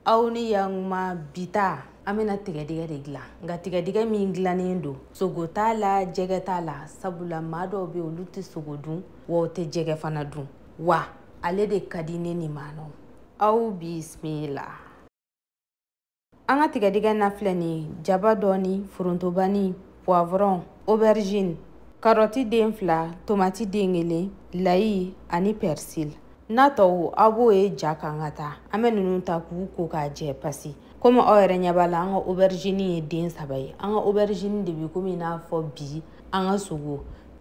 aw ni yankuma bi ta an bɛna tigɛdɛgɛ de dilan nka tigɛdɛgɛ min dilannen don sogo t'a la jɛgɛ t'a la sabula maa dɔw bɛ olu tɛ sogo dun wa u tɛ jɛgɛ fana dun wa ale de ka di ne nimanaw aw bisimila an ka tigɛdɛgɛ na filɛ nin ye jaba dɔɔni forontobani poivron aubergine karɔti den fila tomati den kelen layi ani persil n'a tɔw aw b'o ye ja kan ka taa an bɛ ninnu ta k'u ko k'a jɛ pasi komi aw yɛrɛ ɲɛ b'a la an ka oberizini ye den saba ye an ka oberizini de bɛ komi i n'a fɔ bi an ka sogo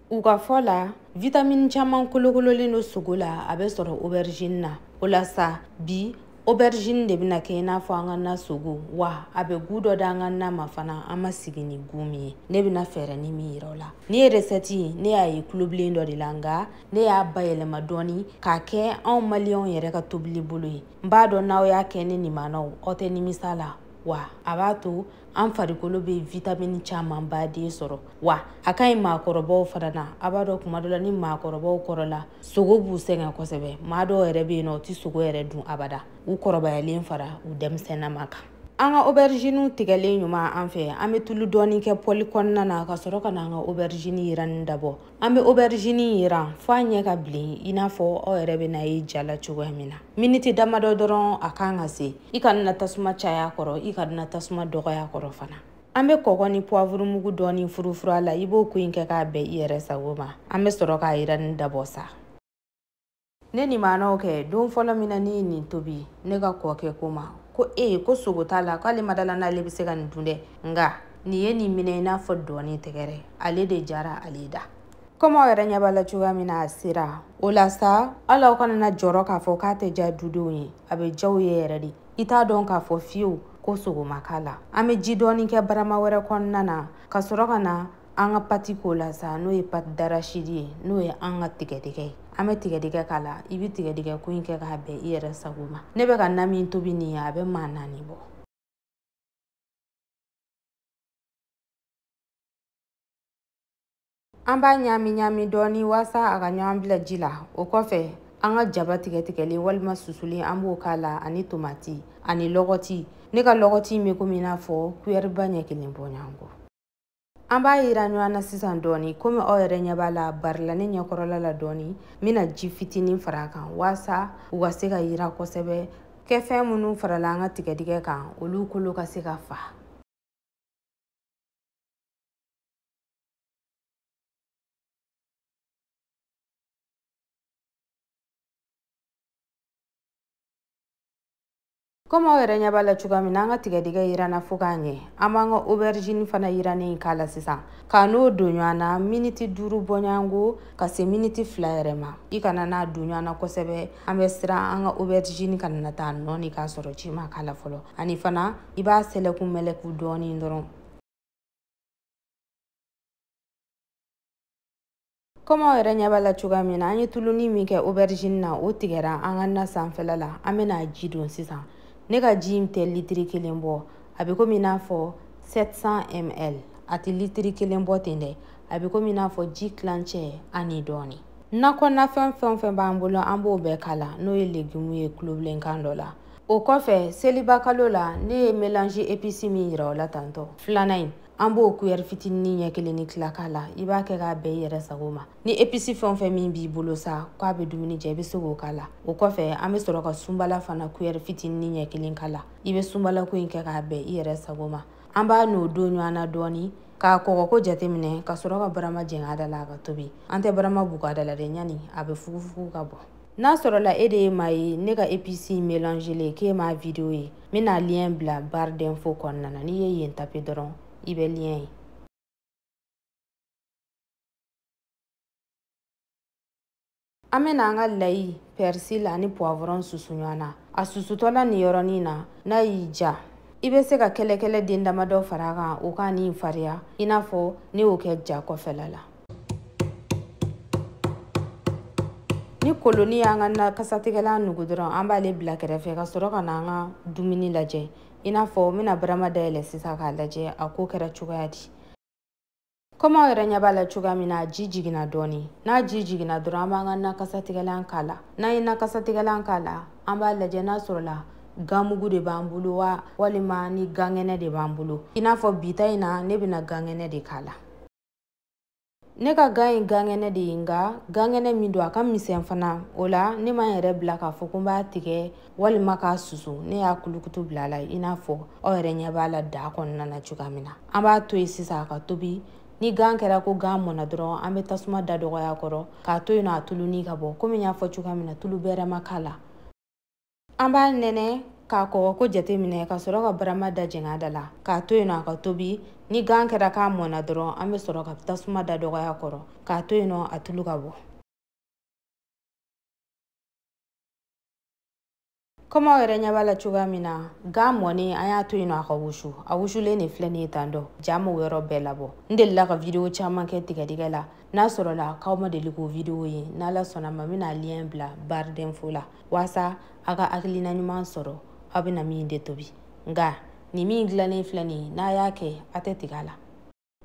u ka fɔ la vitamini caman kolokololen don sogo la a bɛ sɔrɔ oberizini na o la sa bi aubergine de bɛna kɛ i n'a fɔ an ka na sogo wa a bɛ gu dɔ di an ka na ma fana an ma sigi ni gu min ye ne bɛna fɛɛrɛnin min yira aw la nin ye resɛti ne y'a ye tulobilen dɔ de la nka ne y'a bayɛlɛma dɔɔni k'a kɛ anw maliyɛnw yɛrɛ ka tobili bolo ye n b'a dɔn n'aw y'a kɛ ne nimanaw aw tɛ nimisa la wa a b'a to an farikolo bɛ vitamini camanba de sɔrɔ wa a ka ɲi maakɔrɔbaw fana na a b'a dɔn kuma dɔ la ni maakɔrɔbaw kɔrɔla sogo b'u sɛgɛn kosɛbɛ maa dɔw yɛrɛ bɛ yen nɔ u tɛ sogo yɛrɛ dun abada u kɔrɔbayalen fara u denmisɛnnama kan an ka oberiziniw tigɛlen ɲuman an fɛ an bɛ tulu dɔɔni kɛ pɔli kɔnɔna na ka sɔrɔ ka na an ka oberizini yiranni dabɔ an bɛ oberizini yiran fo a ɲɛ ka bilen i n'a fɔ aw yɛrɛ bɛna a ye ja la cogoya min na miniti damadɔ dɔrɔn a kan ka se i kana tasuma caya kɔrɔ i kana tasuma dɔgɔya kɔrɔ fana an bɛ kɔgɔ ni puwavuru mugu dɔɔni furufuru a la i b'o ko in kɛ k'a bɛn i yɛrɛ sago ma an bɛ sɔrɔ k'a yiranni dabɔ sa ne nimanaw kɛ don fɔlɔ min na ne ye nin tobi ne ka kɔkɛ ko n ma ko e ko sogo t'a la k'ale ma da a la n'ale bɛ se ka nin dun dɛ nka nin ye nin minɛ i n'a fɔ dɔɔni tɛgɛrɛ ale de diyara ale da komi aw yɛrɛ ɲɛ b'a la cogoya min na a sera o la sa hali aw kana na jɔrɔ k'a fɔ k'a tɛ diya dudenw ye a bɛ diya u ye yɛrɛ de i t'a dɔn k'a fɔ fiyewu ko sogo ma k'a la an bɛ ji dɔɔni kɛ barama wɛrɛ kɔnɔna na ka sɔrɔ ka na an ka pati k'o la sa n'o ye pati darasidi ye n'o ye an ka tigɛdɛgɛ ye an bɛ tigɛdɛgɛ k'a la i bɛ tigɛdɛgɛ ko in kɛ k'a bɛn i yɛrɛ sago ma ne bɛ ka na min tobi nin ye a bɛ maa naani bɔ an b'a ɲaami ɲaami dɔɔni waasa a ka ɲɔgɔn bila ji la o kɔfɛ an ka jaba tigɛtigɛlen walima susulen an b'o k'a la ani tomati ani lɔgɔti ne ka lɔgɔti in bɛ komi i n'a fɔ kuyɛriba ɲɛ kelen bɔɲɔgɔnko an b'a yiran ɲɔgɔn na sisan dɔɔni komi aw yɛrɛ ɲɛ b'a la bari la ne ɲɛkɔrɔla la dɔɔni n bɛna ji fitinin fara a kan waasa u ka se ka yiran kosɛbɛ kɛfɛn minnu farala an ka tigɛdɛgɛ kan olu kolo ka se ka fa komi aw yɛrɛ ɲɛ b'a la cogoya min na an ka tigɛdɛgɛ yiranna fo k'a ɲɛ an b'an ka oberijini fana yirannen k'a la sisan k'a n'o don ɲɔgɔn na miniti duuru bɔɲɔgɔnko ka se miniti fila yɛrɛ ma i kana n'a don ɲɔgɔn na kosɛbɛ an bɛ siran an ka oberijini kana na taa nɔɔni k'a sɔrɔ ji ma k'a la fɔlɔ ani fana i b'a sɛlɛkun mɛlɛku dɔɔni dɔrɔn komi aw yɛrɛ ɲɛ b'a la cogoya min na an ye tuluni min kɛ aubergine na o tigɛra an ka na sanfɛla la an bɛna ji don sisan ne ka ji in tɛ litiri kelen bɔ a bɛ komi i n'a fɔ 700 ml a tɛ litiri kelen bɔ ten dɛ a bɛ komi i n'a fɔ ji tilancɛ ani dɔɔni na kɔnɔna fɛn fɛn o fɛn b'an bolo an b'o bɛɛ k'a la n'o ye legimu ye kulobilenkan dɔ la o kɔfɛ seliba kalo la ne ye melange epice min yira aw la tantɔ filanan in an b'o kuyɛri fitinin ɲɛ kelen ni tila k'a la i b'a kɛ k'a bɛn i yɛrɛ sago ma ni episi fɛn o fɛn min b'i bolo sa k'a bɛ dumuni ja i bɛ se k'o k'a la o kɔfɛ an bɛ sɔrɔ ka sunbala fana kuyɛri fitinin ɲɛ kelen k'a la i bɛ sunbalako in kɛ k'a bɛn i yɛrɛ sago ma an b'a n'o don ɲɔgɔn na dɔɔni k'a kɔgɔko jateminɛ ka sɔrɔ ka barama jɛngɛ a da la a ka tobi an tɛ barama bugu a da la dɛ ɲani a bɛ fugufugu ka bɔn n'a sɔrɔla e de ye maa ye ne ka episi melangelen k'e m'a video ye n bɛna liyɛn bila barre d'info kɔnɔna na n'i ye yen tape dɔrɔn i bɛ liyɛn ye an bɛna an ka layi persil ani poivron susu ɲɔgɔn na a susutɔla nin yɔrɔnin na n'a y'i ja i bɛ se ka kɛlɛkɛlɛ den damadɔ fara a kan o k'a ni fariya i n'a fɔ ne y'o kɛ ja kɔfɛla la ni koloni y'an ka na kasatigɛlan nugu dɔrɔn an b'ale bila kɛrɛfɛ ka sɔrɔ ka na an ka dumuni lajɛ i n'a fɔ n bɛna barama dayɛlɛ sisan k'a lajɛ a ko kɛra cogoya di komi aw yɛrɛ ɲɛ b'a la cogoya min na a ji jiginna dɔɔni n'a ji jiginna dɔrɔn an b'an ka na kasatigɛlan k'a la n'an ye na kasatigɛlan k'a la an b'a lajɛ n'a sɔrɔla ganmugu de b'an bolo wa walima ni gankɛnɛ de b'an bolo i n'a fɔ bi ta in na ne bɛna gankɛnɛ de k'a la ne ka gan ye gankɛnɛ de ye nka gankɛnɛ min don a ka misɛn fana o la ne ma n yɛrɛ bila k'a fɔ ko n b'a tigɛ walima k'a susu ne y'a kulukutu bila a la i n'a fɔ aw yɛrɛ ɲɛ b'a la daa kɔnɔna na cogoya min na an b'a to yen sisan a ka tobi ni gan kɛra ko gan mɔna dɔrɔn an bɛ tasuma da dɔgɔya kɔrɔ k'a to yen nɔ a tuluni ka bɔ komi n y'a fɔ cogoya min na tulu bɛrɛ ma k'a la an b'a nɛnɛ k'a kɔgɔ ko jate minɛ ka sɔrɔ ka barama da jɛngɛ a da la k'a to yen nɔ a ka tobi ni gan kɛra k'a mɔna dɔrɔn an bɛ sɔrɔ ka tasuma da dɔgɔya kɔrɔ k'a to yen nɔ a tulu ka bɔ kɔmi aw yɛrɛ ɲɛ b'a la cogoya min na gan mɔni an y'a to yen nɔ a ka wusu a wusulen de filɛ nin ye tan dɔ ja m'o yɔrɔ bɛɛ labɔ n delila ka vidiyo caman kɛ tigɛdɛgɛ la n'a sɔrɔla k'aw ma deli k'o vidiyo ye n'ala sɔnna ma n bɛna liyɛn bila barre d'info la waasa a ka hakilina ɲuman sɔrɔ aw bɛna min de tobi nka nin min dilannen filɛ nin ye n'a y'a kɛ a tɛ tigɛ a la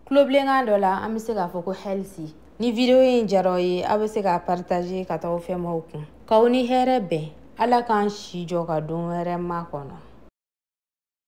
tulobilenkan dɔ la an bɛ se k'a fɔ ko healthy ni video in diyara aw ye aw bɛ se k'a partager ka taa aw fɛmaaw kun k'aw ni hɛrɛ bɛn ala k'an si jɔ ka don wɛrɛ makɔnɔ